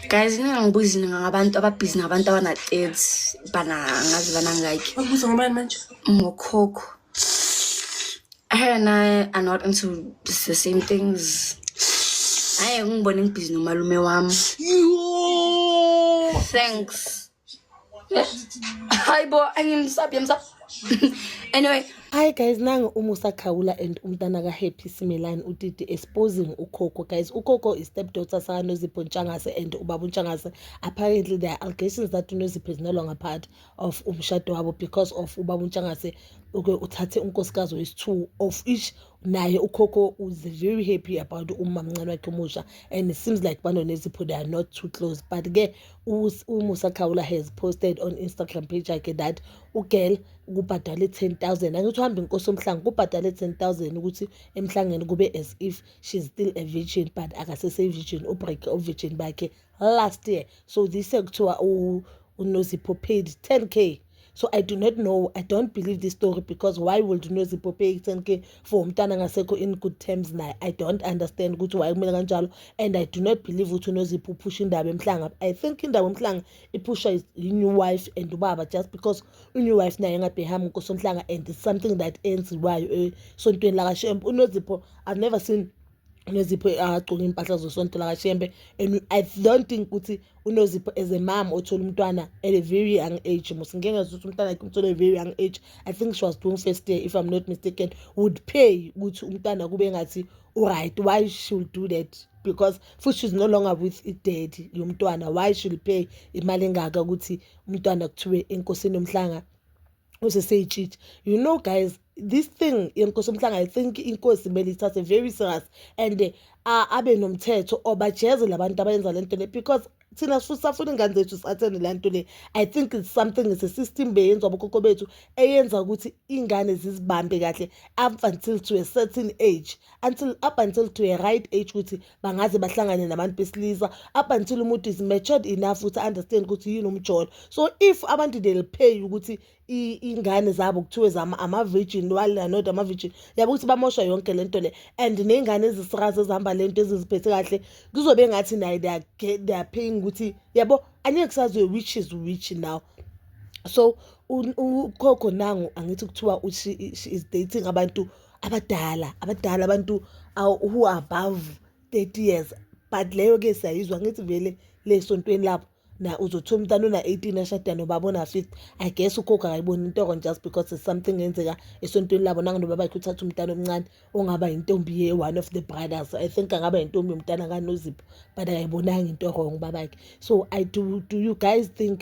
guys mina ngibuzi ngabantu ababhizi nabantu abana-third bana ngazi banangaki ubuza ngobani manje ngokhokho her and i are not into the same things hayi ngibone ngibhizi nomalume wami thanks hayi bo angimsabi yamsabi anyway hayi guys nange uma usakhawula and umntana ka-happy simelani utiti exposing ukhokho guys ukhokho i-step daughter sakanozipho ntshangase and ubaba untshangase apparently there are allegations that unozipho is no longer part of umshado wabo because of ubaba untshangase uke uthathe unkosikazi wesi-two of each naye ukhokho was very happy about umamncane wakhe omusha and it seems like banonezipho they are not too close but-ke uMusa Khawula has posted on Instagram page yakhe that ugirl kubhadale 10000 angithi uhamba inkosi omhlanga kubhadale 10000 ukuthi emhlangeni kube as if she's still a virgin but akasese virgin ubreak uvirgin bakhe last year so this kuthiwa unozipho paid 10k so i do not know i don't believe this story because why would unozipope ekutheni ke for umntana ngasekho in good terms naye i don't understand ukuthi why kumele kanjalo and i do not believe ukuthi unozipho uphusha indaba emhlanga i think indaba emhlanga iphusha i-new wife and ubaba just because i-new wife naye engabhehami nkosonhlanga and it's something that enziwayo esontweni eh, lakashemp unozipho i've never seen unozipho agcoke iy'mpahla zosonto lakashembe and i don't think ukuthi unozipho as a mom othola umntwana at a very young age mos ngike ngazisa ukuthi umntwana akhe umthole a very young age i think she was doing first year if i'm not mistaken would pay ukuthi umntwana kube ngathi uright why she'll do that because futhi she's no longer with idaddy yomntwana why she'll pay imali engaka ukuthi umntwana kuthiwe enkosini yomhlanga useseyitshitshi you know guys this thing yenkosi umhlanga i think inkosi kumele ithathe very serious and uh, abe nomthetho obajeze labantu abayenza lento le because thina sisafuna ingane zethu sathene le nto le i think it's something it's a system beyenzwa abokhokho bethu eyenza ukuthi ingane zizibambe kahle up until to a certain age until up until to a right age ukuthi bangaze bahlangane nabantu besilisa up until umuntu is matured enough ukuthi understand ukuthi yini umjolo so if abantu they'll pay ukuthi ingane zabo kuthiwe zama ama-virgin while are not ama-virgin yabo ukuthi bamosha yonke le nto le and ney'ngane ezisikazi ezihamba le nto eziziphethe kahle kuzobe ngathi naye they are paying ukuthi yabo angeke kusaziwe which is which now so ukhokho nangu angithi kuthiwa she is dating abantu abadala abadala abantu who are above 30 years but leyo ke siyayizwa ngithi vele le sontweni lapho na uzothola umntana ona-18 ashada nobaba ona-50 i guess ukhokha akayiboni intoko just because it's something yenzeka esontweni labo nangonoba bakhe uthatha umntana omncane ongaba yintombi ye-one of the brothers i think angaba yintombi yomntana kanozipho but akayibonanga into wrong babakhe so i do, do you guys think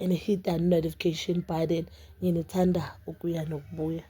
and hit that notification button nginithanda ukuya nokubuya